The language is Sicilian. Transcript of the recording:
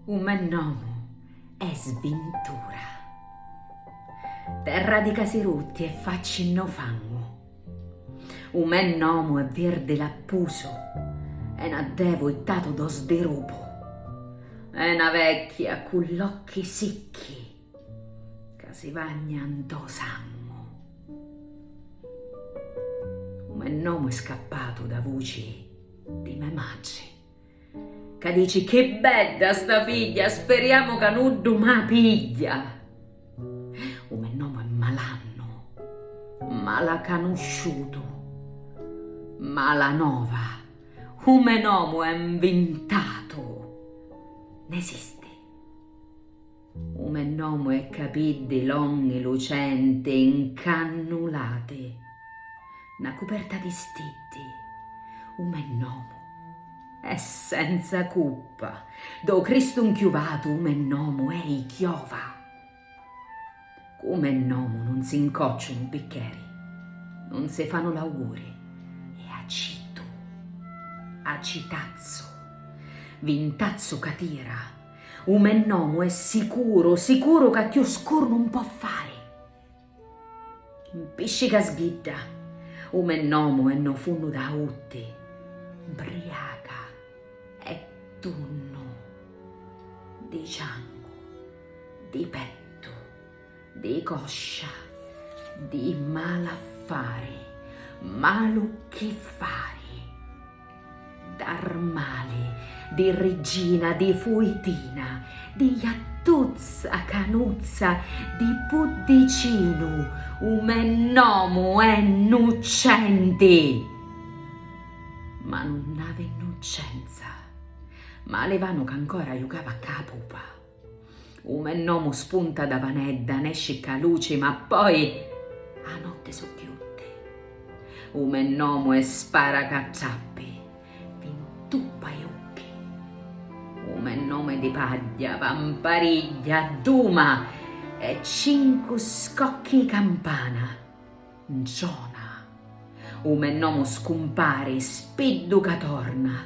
U me nomu è Sbintura. Terra di casi rutti e facci nno fangu. U me nomu è virdi lappusu e n'addevu ittatu do sdirupu. E na vecchia cu l'occhi sicchi. Ca si vagna ntô sangu. U me nomu è scappatu dâ vuci di me matri, ca dici, Chi bedda sta figghia, speriamu ca nuddu mâ pigghia! U me nomu è malannu, malacanusciutu, malanova, u me nomu è 'nvintatu, n'esisti. U me nomu è capiddi longhi lucenti ncannulati na cuperta di stiddi u me nomu è senza cuppa do Cristu nchiuvatu u me nomu è i chiova cu me nomu nun si ncocciunu biccheri nun si fanu l'auguri e acitu acitazzu vintazzu ca tira U me nomu è sicuru, sicuru ca cchiù scuru nun po' fari. Mpisci ca sbidda, u me nomu è no funnu d'autti, mbriaca e tunnu di ciancu, di pettu. Di coscia, di malaffari, malu chi fari, d'armali, di riggina, di fuitina, di jattuzza, canuzza, di puddicinu, u me nomu è Nuccenti! Ma nun avi nnuccenza, ma a livanu ch'ancora jucava cca a pupa. U me nomu spunta da vanedda, nesci cca luci, ma poi a notti su chiutti. U me nomu è spara ca trappi, vi ntuppa i ucchi. U me nomu è di pagghia, va mparigghia, adduma e cincu scocchi i campana. Ntrona. U me nomu scumpari, spiddu ca torna,